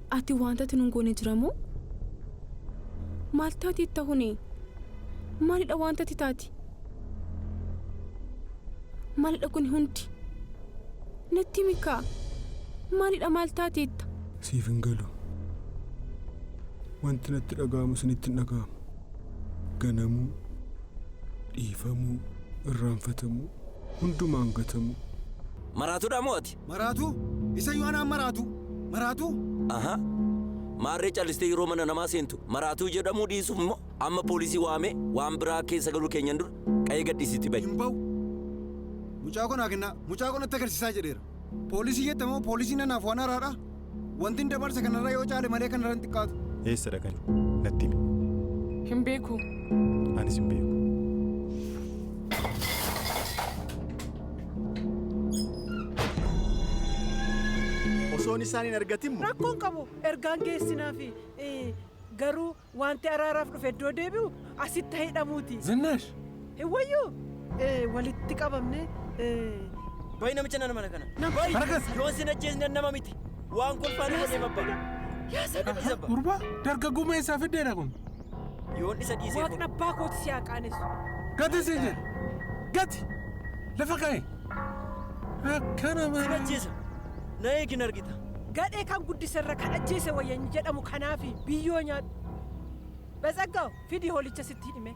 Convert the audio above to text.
Ati waantati nun goone jira moo? Maal taati itta hune? Maalidha waantati taati? Maalidha kuni hundi? Natti himi kaa. Maalidha maal taati itta? Siif hin galu. Wanti natti dhaga'amu isinitti hin dhaga'amu. Ganamuu, dhiifamuu, irraanfatamuu, hundumaan gatamuu. Maraatudha moo ati? Maraatuu? Isayyuu anaan maraatuu? Maraatuu? Aha. Maarree callistee yeroo mana namaa seentu maraatuu jedhamuu dhiisuuf immoo amma poolisii waamee waan biraa keessa galuu keenyan dura qa'ee gadhiisitti bahi. Hin ba'u. Mucaa koo naa kennaa. Mucaa koo natti agarsiisaa jedheera. Poolisii jette moo poolisiin anaaf waan haaraadhaa? Wantin dabarse kanarra yoo caale malee kanarra hin xiqqaatu. Eessa dhaqani? Natti himi. Hin beeku. Anis hin beeku. Osoon isaan hin argatin moo? Rakkoon qabu ergaan geessinaafi garuu Wanti araaraaf dhufe iddoo deebi'u asitti hidhamuuti. Zinnaash! Hin wayyuu? Ee, walitti qabamne. Ee. Bayi namicha nana mana kana. Barakas! Yoon sin ajjeesne nama miti. Waan kolfaa nu godhee babba. Yaa sana Gadhiisa abba. Gurbaa dargaggummaa eessaa fiddeedha kun? Yoon isa dhiisee Waaqni kun. abbaa kooti si haa qaanessu. Gati siin jedhe! Gati! Lafa kaa'e! Akkana Sin malee. ajjeesa. Na eegi hin argita. Gadhee kan guddise irra kan ajjeese wayya hin jedhamu kanaafi biyyoo nyaadhu. Batsaggaw fidi hoolicha sitti hidhime.